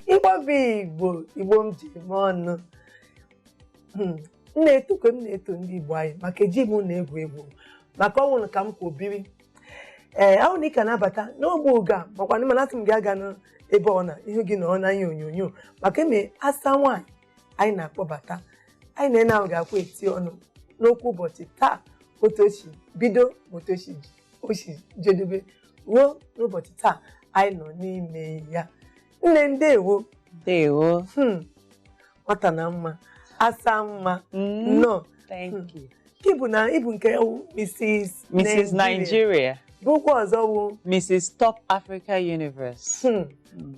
igbo bụ igbo igbo m ji eme ọnụ Hmm, m na-eto ka m na-eto ndị igbo anyị maka eji m unu egwu egwu maka ọ wụ unu ka m kwọ biri ee ahụ na ị ka na-abata n'ogbe oge a makwa na mana asị m gị agana ebe ọ na ihu gị nọọ na ihe onyonyo maka eme asa nwaanyị anyị na-akpọbata anyị na nne ahụ ga-akwụ eti ọnụ n'okwu ụbọchị taa otu o si bido ma otu o si ji- o si jedebe ruo n'ụbọchị taa anyị nọ n'ime ya nne ndewo Ndewo. hmm, nwata na mma asa mma Mm, nnọọ Thank you. ị bụ na ị bụ nke wụ Mrs. Mrs. Nigeria bụkwa ọzọ wụ Mrs. Top Africa Universe hmm,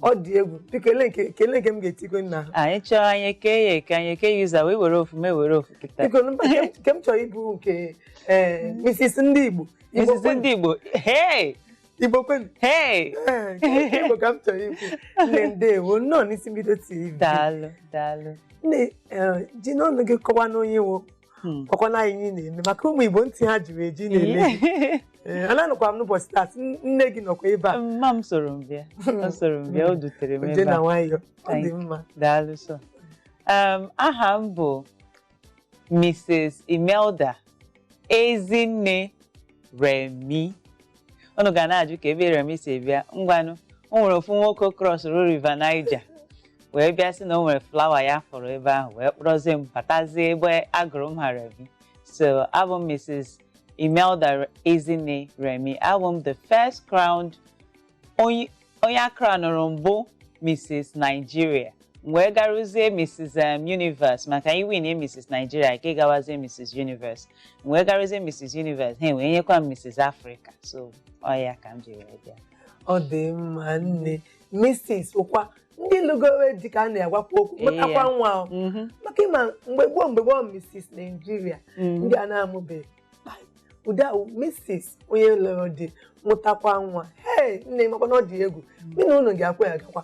ọ dị egwu biko ele nke kele nke m ga-etukwe n'aha anyị chọọ anyị eke ya eke anyị eke ya ụzọ wee were ofu mụ ewere ofu kịta biko mba, nke m- nke m chọrọ ịbụ nke eh, Mrs. ndị Igbo Igbo Mrs. kwenu, ndị Igbo hey Igbo kwenu hey Eh, nke Igbo ka m chọrọ ikwu nne ndewo nnọọ n'isi mbido TV daalụ daalụ nne eh, jinụ ọnụ gị kọwanụ onye ị wụ Hmm. ọ kwa na anyị na-eme maka ụmụ igbo ntị ha jiri eji na-ele gị. Ee, ananụkwa m n'ụbọchị taa sị, "N- nne gị nọkwa ebe a mma m soro m bịa ọ soro m bịa o dutere m ije ebe na a nwayọ ọ dị Thank mma daalụ sọ um, aha m bụ mrs imelda ezinne remi unu ga na-ajụ kee ebe remi si bịa ngwanụ o nwere ofu nwoke crossụrụ River Niger wee bịa sị na o nwere flower ya fụrụ ebe ahụ wee kpọrọzie m batazie ebe a gụrụ m aha remi so abụ m mrs imelda ezinne remi abụ m the first crowned Onye onye a crownụrụ mbụ Mrs. Nigeria m wee garuzie Mrs. um, Universe maka ị win Mrs. Nigeria ka ị gawazie Mrs. Universe m wee garuzie Mrs. Universe ha wee nyekwa m Mrs. Africa so ọ ya ka m ji wee bịa ọ dị mma nne Mrs. wụkwa ndị lụgowe di ka a na-agwakwa okwu Ee, mụtakwa ya. nwa o. Mhm, maka ị ma mgbe gboo mgbe gboo Mrs. Nigeria mhm. ndị a na-amụbeghị ụdị ahụ Mrs. onye lụrụ di mụtakwa nwa hei nne makwa na ọ dị egwu gị na ụlọ gị akwa ya gakwa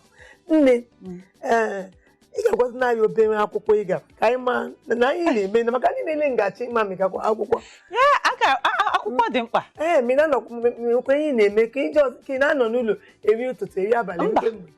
nne ee ị ga-agwazinụ anyị obere akwụkwọ ị gara ka anyị ma na anyị na-eme na maka ndị na-ele ngachi ị ma ma ị gakwa akwụkwọ ya a ga a- a- akwụkwọ dị mkpa ee ma ị na-anọkwa ihe na-eme ka ije ọzọ ka ị na-anọ n'ụlọ eri ụtụtụ eri abalị Mba. eri mgbede.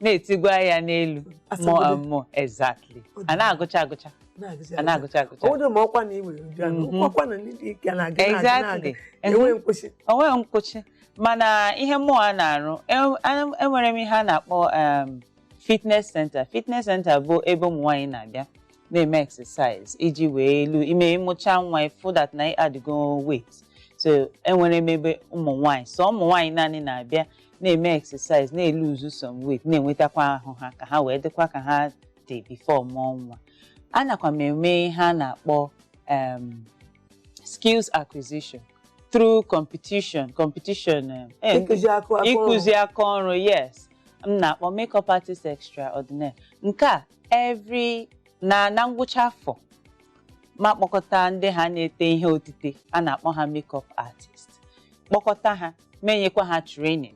na-etigwa ya n'elu more Asabodo. and more exactly a na-agụcha agụcha a na-agụcha agụcha ọwụdụ ma ọkwa na ị nwere uju anụ Mhm. ọkwa na ndị dị ike na-aga na-aga exactly na-aga enweghị nkwụsị o nweghị nkwụchi mana ihe mụwa na-arụ e- a- enwere m ihe a na-akpọ em, fitness center fitness center bụ ebe ụmụ nwaanyị na-abịa na-eme exercise iji wee elu ime ị mụcha nwa ị fụ that na ị addịgo weight so enwere m ebe ụmụ nwaanyị sọ ụmụ nwaanyị naanị na-abịa na-eme exercise na-eluzu some weight na-enwetakwa ahụ ha ka ha wee dịkwa ka ha dị before mụọ nwa anakwa m eme ihe a na-akpọ um, skills acquisition through competition competition um, eh, ịkụzi akụ akụ ịkụzi aka ọrụ yes m na-akpọ makeup artist extraordinaire nke a every na na ngwụcha afọ m akpọkọta ndị ha na-ete ihe otite a na-akpọ ha makeup artist kpọkọta ha m enyekwa ha training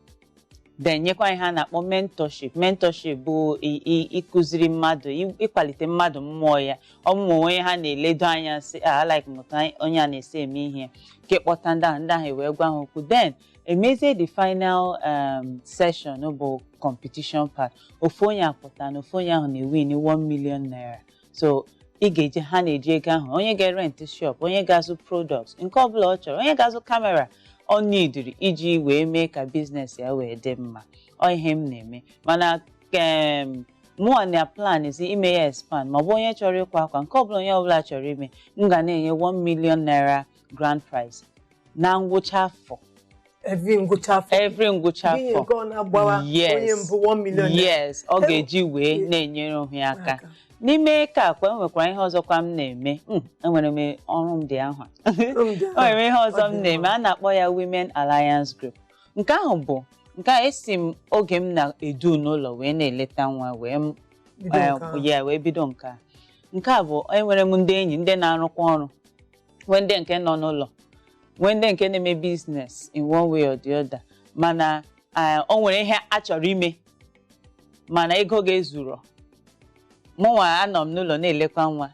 then nyekwa ihe a na-akpọ mentorship mentorship bụ i- i- ịkụziri mmadụ ị- ịkwalite mmadụ mmụọ ya ọ bụrụ o nwee onye ha na-eledo anya sị "Ah, I like m otu anyị- onye a na-esi eme ihe nke kpọta ndị ahụ ndị ahụ wee gwa ha okwu then emezie the final um, session bụ competition part ofu onye apụta na ofu onye ahụ na-ewin 1 million naira so ị ga-eji ha na-eji ego ahụ onye ga-erent shop onye ga-azụ product nke ọbụla ọ chọrọ onye ga-azụ kamera ọ nidiri iji wee mee ka biznes ya wee dị mma ọ ihe m na-eme mana kem mụwa na-aplanzi ime ya expand ma ọ bụ onye chọrọ ịkwa akwa nke ọbụla onye ọbụla chọrọ ime m ga na-enye 1 million naira grand prize na ngwụcha afọ every ngwụcha afọ every ngwụcha Gịnị afọ nke ọ na-agbawa onye Yes. mbụ 1 million naira? yes ọ Ewu. ga-eji wee Yes. na-enyere onwe ya aka Aka. n'ime nke a kwa enwekwara ihe ọzọkwa m na-eme Mm, enwere m ọrụ media ahụ Ọrụ media o nwere ihe ọzọ Ọ m dị na-eme mma. a na-akpọ ya Women Alliance Group nke ahụ bụ nke a esi m oge m nọdụ n'ụlọ wee na-eleta nwa wee m Bido nke ahụ. ya wee bido nke a nke a bụ enwere m ndị enyi ndị na-arụkwa ọrụ nwee ndị nke nọ n'ụlọ nwee ndị nke na-eme biznes in one way or the other mana eh, o nwere ihe ha chọrọ ime mana ego aka ezuro mụnwa anọ m n'ụlọ na-elekwa nwa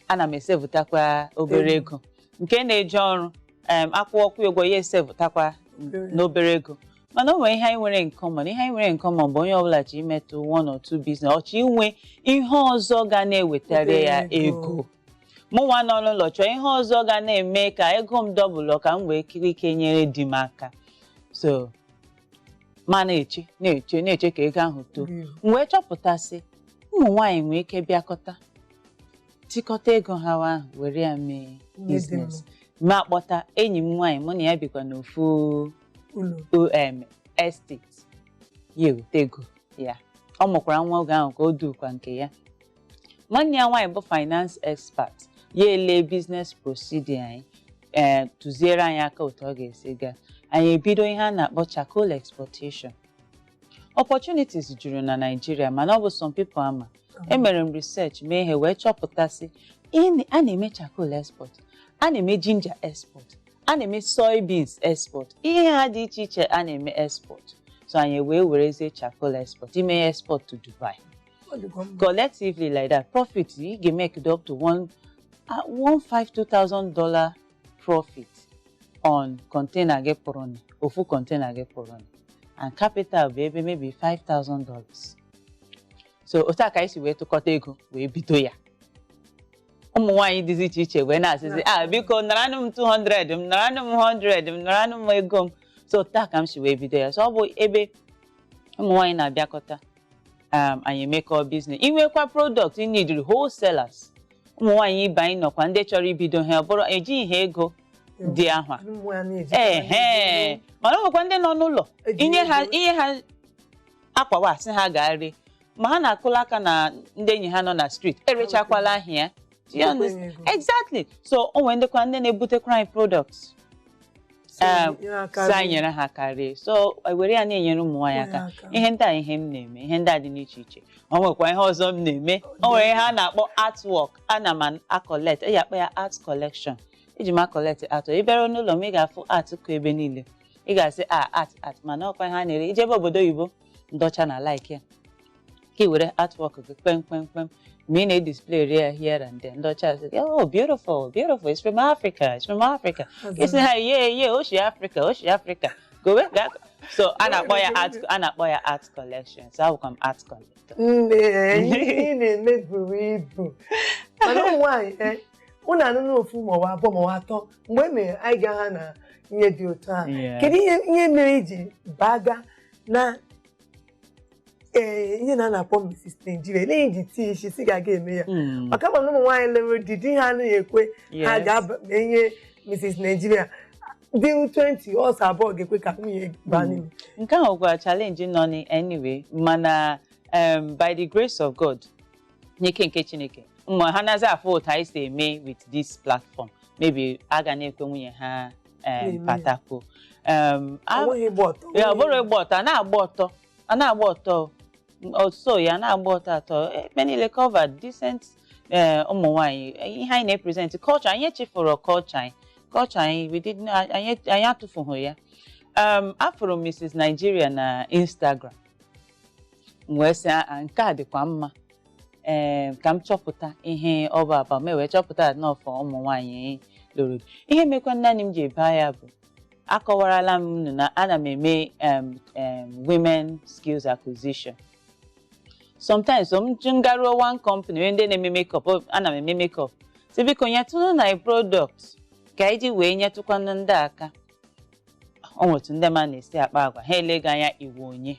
ana m esevụtakwa obere ego nke na-eje ọrụ em, a kwụọkwa kwụ ụgwọ ya esevụtakwa n'obere ego mana o nwere ihe anyị nwere in common ihe anyị nwere in common bụ onye ọbụla chọ imetụ one or two business ọ chọ inwe ihe ọzọ ga na-ewetara ya Obere ego. ego mụnwa nọ n'ụlọ chọọ ihe ọzọ ga na-eme ka ego m dọbụlụ ka m nwee ike nyere di m aka so m a na-eche na-eche na-eche ka ego ahụ too Mm. m wee chọpụta sị ụmụ nwaanyị nwee ike bịakọta tikọta ego ha ahụ were ya mee Ihe dị biznes m akpọta enyi m nwaanyị mụ na ya bikwa n'ofu ụlọ om estate ya eweta ego ya ọ mụkwara nwa oge ahụ ka o dukwa nke ya nwanne ya nwaanyị bụ finance expert ya ele business procedure anyị ee tụziere anyị aka otu ọ ga-esi gaa anyị ebido ihe a na-akpọ charcoal exportation opportunities juru na Naịjirịa mana ọ bụ some people ama emere m research mee ihe wee chọpụta sị ihe na- a na-eme charcoal export a na-eme ginger export a na-eme soybeans export ihe a dị iche iche a na-eme export so anyị wee werezie charcoal export ime ya export to Dubai Ọ dịkwa mma. collectively like that profit ị ga-emake dị up to one ah, one five two thousand dollar profit on container gị pụrụnị ofu container gị pụrụnị and capital bụ ebe maybe five thousand dollars so otu a ka anyị si wee tụkọta ego wee bido ya ụmụ nwaanyị dịzi iche iche wee na-asịzi ah biko naranụ m 200 m naranụ m 100 m naranụ m ego m so otu a ka m si wee bido ya so ọ bụ ebe ụmụ nwaanyị na-abịakọta um, anyị emekọọ biznes i nwekwa product ị nidiri wholesalers ụmụ nwaanyị ibe anyị nọkwa ndị chọrọ ibido ihe a ọ bụrụ ejighị ha ego dị ahụa. Ụmụ ya na-eji- ehe mana ọ nwekwa ndị nọ n'ụlọ Eji inye ha ego. i nye ha akwa ahụ asị ha gaa ree ma ha na-akụla aka na ndị enyi ha nọ na street erechakwala ahịa ya Do you Enyekwa understand? ya ego. exactly so o nwere ndịkwa ndị na-ebutekwara anyị products Ee, nyere aka sị anyị nyere ha aka ree ya so e were ya na-enyere ụmụ nwaanyị aka Nyere aka. ihe ndị a ihe m na-eme ihe ndị a dị n'iche iche o nwekwa ihe ọzọ m na-eme o nwere ihe a na-akpọ artwork ana m acollect e ji akpọ ya art collection eji m acollect art ị bịara n'ụlọ m ị ga-afụ art kụ ebe niile ị ga-asị a art art mana ọ kwa ihe a na-ere i jebe obodo oyibo ndị ọcha na-alike ya ka i were artwork gị kpem kpem kpem ma ị na-edisplayri ya here and there ndị ọcha asị gị oh beautiful beautiful it's from Africa it's from Africa ị sị ha yeah yeah o shi Africa o shi Africa gowe ga so a na-akpọ ya art a na-akpọ ya art collection so abụkwa m art collector nne ihe ị na-eme buru ibu mana ụmụ nwaanyị eh, unu anụnụ ofu maọbụ abụọ maọbụ atọ mgbe e mere anyị ga ha na ihe dị otu a Yeah. kedu ihe ihe mere i ji baga na ee ihe na a na-akpọ Mrs. Nigeria olee ihe i ji tii isi sị ị ga-aga eme ya Mm. maka m ma na ụmụ nwaanyị lụrụ di di ha anaghị ekwe ha Yes. gaa ihe Mrs. Nigeria di 20 ọ sọ abụọ ga-ekwe ka nwunye baa n'ime nke ahụ bụkwa challenge nọnị anyway mana um, by the grace of god n'ike nke chineke ma ha nazi afụ otu anyị si eme with this platform maybe a ga na-ekwe nwunye ha Na-eme um, ya. partake o um, a- Onweghị ịgba ọtọ. ya ọ bụrọ ịgba ọtọ a na-agba ọtọ a na-agba ọtọ ọso ya na-agba ọtọ atọ ebe niile covered decent eh, ụmụ nwaanyị ihe anyị na-epresent culture anyị echefuro culture anyị culture anyị we did not- anyị anyị atụfughị ya um, afụrụ m Mrs. Nigeria na Instagram m wee sị a nke a dịkwa mma ee ka m chọpụta ihe ọ bụ about m wee chọpụta na ọ for ụmụ nwaanyị lụrụ di. ihe mekwa naanị m ji baa ya bụ akọwarala m unu na ana m eme em, em, women skills acquisition sometimes m je m garuo one company onye ndị na-eme makeup ọ- ana m eme makeup sị biko nyetụnụ anyị product ka anyị ji wee nyetụkwanụ ndị a aka o nwere otu ndị mmadụ na-esi akpa agwa ha ele gị anya ị wụ onye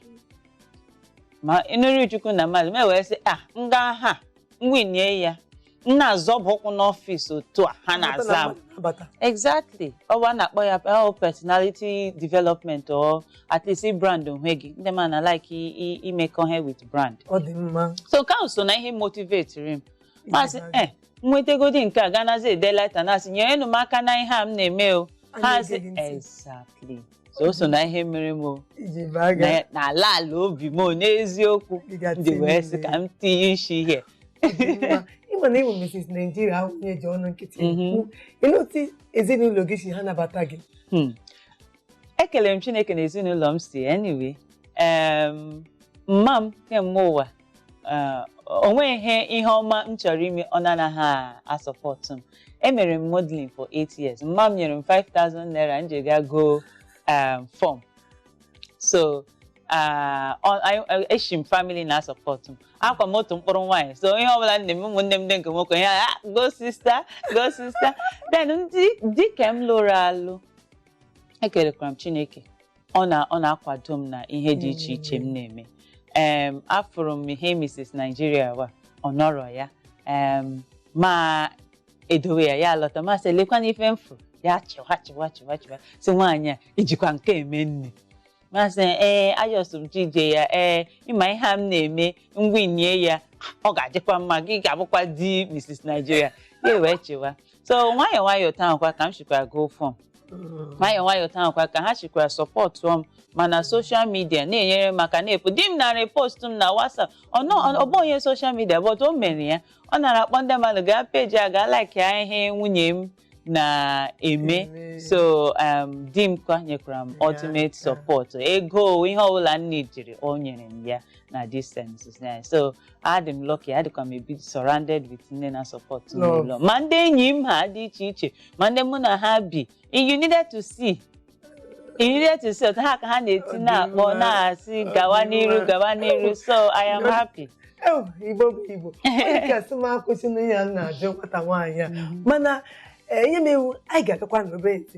ma ịnụrụ chukwu na mmadụ m wee sị a m gaa ha m winie ya m na-azọba ụkwụ n'ọfịs otu a ha na-aza m Abata. exactly ọ bụ a na-akpọ ya oh, personality development or at least brand onwe gị ndị mmadụ na-alike i- i- imekọ ihe with brand ọ dị mma so nke ahụ so na ihe motivetiri m m asị e nwetegodi nke a ganazi ede leta na-asị nyerenụ m aka na ihe a m na-eme o ha asị exactly so o so na ihe mere m o ji baa ya na- na ala ala obi m o n'eziokwu dịga m ji wee sị ka m tinye isi ihe ị ma na ịwụ Mrs. Nigeria awụghị ihe e ji ọnụ nkịtị Mhm. ekwu. Olee otu ezinụlọ gị si anabata gị Hmm. ekelere m chineke na ezinụlọ m si anyway em, mma m kemgbe ụwa Ee, o nweghị ihe ọma m chọrọ ime ọ na-anaghị asupportu m emere m modeling for 8 years mma m nyere m 5000 naira m ji ga gọ um, form so ah, ọ- anyị- eh, eshi m family na-asupportu m awụkwa m otu mkpụrụ nwaanyị so ihe ọbụla nne m ụmụnne m ndị nke nwoke ya "Ah, go sister go sister then di ke m lụrụ alụ ekelekwara m chineke ọ na ọ na-akwado m na ihe dị iche iche m na-eme em afụrụ m ihe Mrs. Nigeria wa ọ nọrọ ya em m edowe ya ya alọta m asị lekwana ife m fụrụ ya chịwa chịwa chịwa chịwa sị nwaanyị a i jikwa nke eme nne m asị ee achọzi m ije ya ee ị ma ihe a m na-eme m winie ya ọ ga-adịkwa mma gị ga-abụkwa di Mrs. Nigeria ya wee chịwa so nwayọọ nwayọọ otu ahụ kwa ka m shikwara gọ form nwayọọ nwayọọ otu ahụ kwa ka ha shikwara supportuo m mana social media na-enyere m aka na-epu di m nara post m na WhatsApp ọ nọ- ọ bụrọ onye social media but o mere ya ọ nara akpọ ndị mmadụ gaa page a gaa like ya ihe nwunye m na-eme Eme. so um, di m kwa nyekwara m Ya, ultimate ya. support ego ihe ọbụla m needịrị o nyere m ya na distance so adị m lucky adịkwa m ebi surrounded with ndị na support m n'ụlọ ma ndị enyi m ha dị iche iche ma ndị mụ na ha bi you needed to see you needed to see otu ha ka ha na-eti na-akpọ na-asị gawa n'iru gawa n'iru so I am happy Ew, Igbo bụ Igbo ọ dị ka a sị m akwụsịna ihe a m na-ajụ nwata nwaanyị a mana eh, ihe m ewu anyị ga-agakwa n'obe ntị